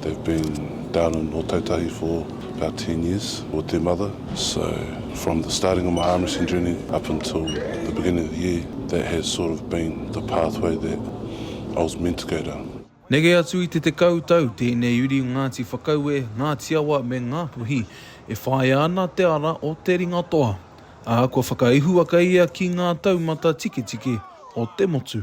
They've been down in Ōtautahi for about ten years with their mother so from the starting of my arm wrestling journey up until the beginning of the year that has sort of been the pathway that I was meant to go down. Neke atu i te tekau tau tēnei uri o Ngāti Whakaue, Ngāti Awa me Ngā Puhi e whāia ana te ara o te ringatoa, ā, kua whakaihuwaka ia ki ngā taumata tiketike o te motu.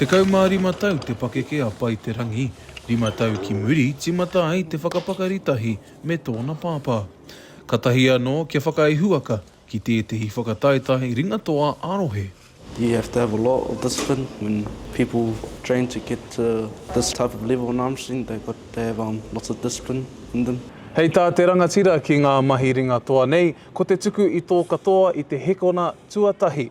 Tekau mā rima tau te pakeke a Pai Te Rangi, rima tau ki muri tīmata ai te whakapakari tahi me tōna pāpā. Katahi anō kia whakaihuwaka ki tētehi whakataetae ringatoa ā-rohe. You have to have a lot of discipline when people train to get to this type of level in arm wrestling, they've got to have lots of discipline in them. Hei tā te rangatira ki ngā mahi ringatoa nei, ko te tuku i tō katoa i te hekona tuatahi,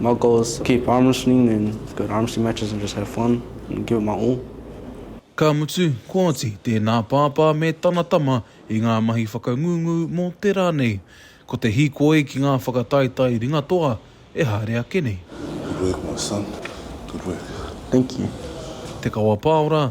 My goal is to keep arm wrestling and go to arm wrestling matches and just have fun and give it my all. Ka mutu, kua oti tēnā pāpā me tana tama i ngā mahi whakangungu mō te rā nei. Ko te hīkoi ki ngā whakataetae ringatoa e haere ake nei. Good work my son, good work. Thank you. Te Kawapāora.